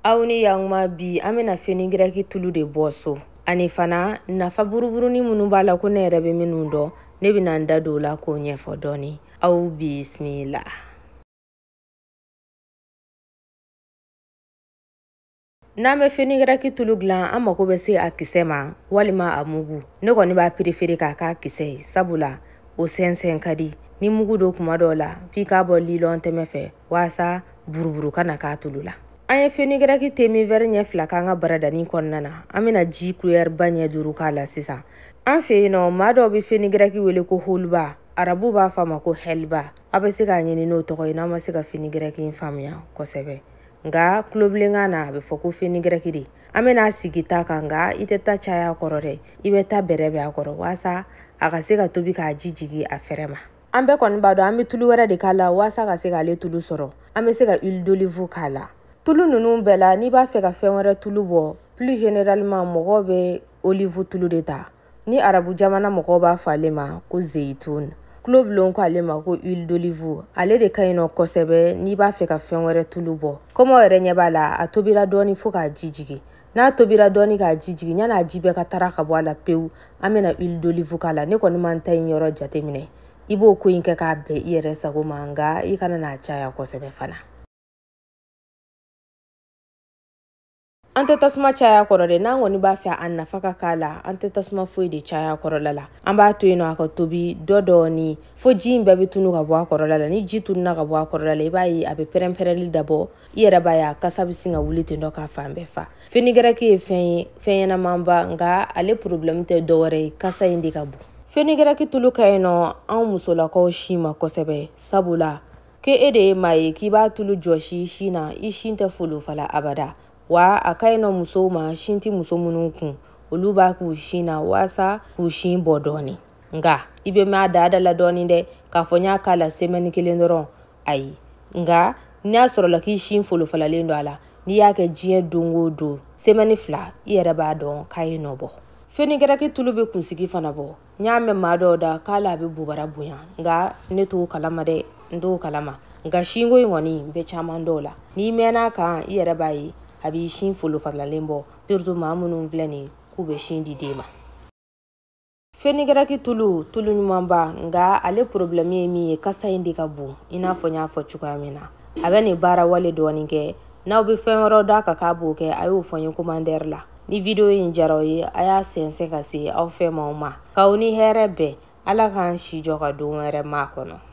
aw ni yanguma bi an bɛna fenigɛrɛki tulu de bɔ so ani fana nafa buruburuni minnu b'a la ko ne yɛrɛ bɛ minnu dɔn ne bɛna n da don o la k'o ɲɛfɔ dɔɔni aw bisimila n'an bɛ fenigɛrɛki tulu dilan an mago bɛ se a kisɛ ma walima a mugu ne kɔni b'a perefere k'a k'a kisɛ ye sabula o sɛnsɛn ka di ni mugu don kuma dɔw la f'i k'a bɔ lilɔn tɛmɛ fɛ waasa buruburu kana k'a tulu la an ye fenigɛrɛki teminvɛri ɲɛ fila k'an ka baradani kɔnɔna na an bɛna ji kulɛriba ɲɛ duuru k'a la sisan an fɛ yen nɔ maa dɔw bɛ fenigɛrɛki wele ko holuba arabu b'a fɔ a ma ko hɛliba a bɛ se k'a ɲini n'o tɔgɔ ye n'aw ma se ka fenigɛrɛki in faamuya kosɛbɛ nka tulobilenkan na a bɛ fɔ ko fenigɛrɛki de an bɛn'a sigi ta kan nka i tɛ ta caya a kɔrɔ dɛ i bɛ ta bɛrɛ bɛn a kɔrɔ waasa a ka se ka tobi k'a ji jigin a fɛrɛ ma an bɛɛ kɔni b'a dɔn an bɛ tulu wɛrɛ de k'a la waasa ka se k'ale tulu sɔrɔ an bɛ se ka huile d'olive k'a la tulu ninnu bɛɛ la n'i b'a fɛ ka fɛn wɛrɛ tulu bɔ plus généralement mɔgɔw bɛ olive tulu de ta ni arabu jamana mɔgɔw b'a fɔ ale ma ko zeyitun tulobilenw ko ale ma ko huile d'olive ale de ka ɲi nɔ kosɛbɛ n'i b'a fɛ ka fɛn wɛrɛ tulu bɔ kɔmi aw yɛrɛ ɲɛ b'a la a tobira dɔɔni fo k'a ji jigin n'a tobira dɔɔni k'a ji jigin yan'a ji bɛɛ ka taa ka bɔ a la pewu an bɛna huile d'olive k'a la ne kɔni ma n ta in yɔrɔ jateminɛ i b'o ko in kɛ k'a bɛn i yɛrɛ sago ma nka i kana n'a caya kosɛbɛ fana an tɛ tasuma caya a kɔrɔ dɛ n'an kɔni b'a fɛ a nafa ka k'a la an tɛ tasuma foyi de caya a kɔrɔla la an b'a to yen nɔ a ka tobi dɔɔni dɔɔni fo ji in bɛɛ bɛ tunu ka bɔ a kɔrɔla la ni ji tununa ka bɔ a kɔrɔla la i b'a ye a bɛ pɛrɛn-pɛrɛnli dabɔ i yɛrɛ b'a y'a kasa bɛ sin ka wuli ten dɔ ka fan bɛɛ fa fenigɛrɛki ye fɛn ye fɛn ɲɛnamanba nka ale porobilɛmu tɛ dɔwɛrɛ ye kasa in de ka bon fenigɛrɛki tulu ka ɲi nɔ anw musolakaw sin ma kosɛbɛ sabula ke e de ye maa ye k'i b'a tulu jɔsi i sin na i sin tɛ folofala abada wa a ka ɲi nɔ musow ma sin tɛ muso minnu kun olu b'a k'u sin na waasa k'u sin bɔ dɔɔnin nka i bɛ mɛn a da da la dɔɔnin dɛ k'a fɔ n'i y'a k'a la semɛni kelen dɔrɔn ayi nka n'a sɔrɔla k'i sin folofalalen don a la n'i y'a kɛ diɲɛ don o don semɛni fila i yɛrɛ b'a dɔn k'a ye nɔ bɔ fenigɛrɛki tulu bɛ kunsigi fana bɔ n y'a mɛn maa dɔw da k'ale bɛ bobara bonya nka ne t'o kalama dɛ n t'o kalama nka sinko in kɔni n bɛ caman dɔn a la n'i mɛnna a kan i yɛrɛ b'a ye a b'i sin folofalalen bɔ surtout maa minnu filɛ nin k'u bɛ sin di den ma fenigɛrɛki tulu tulu ɲumanba nka ale porobilɛmu ye min ye kasa in de ka bon i n'a fɔ n y'a fɔ cogoya min na a bɛ nin baara wale dɔɔnin kɛ n'aw bɛ fɛn wɛrɛ dɔn a kan k'a b'o kɛ a y'o fɔ n ye komantɛri la ni video in diyara aw ye a y'a sɛnsɛn ka se aw fɛ maaw ma k'aw ni hɛrɛ bɛn ala k'an si jɔ ka don wɛrɛ makɔnɔ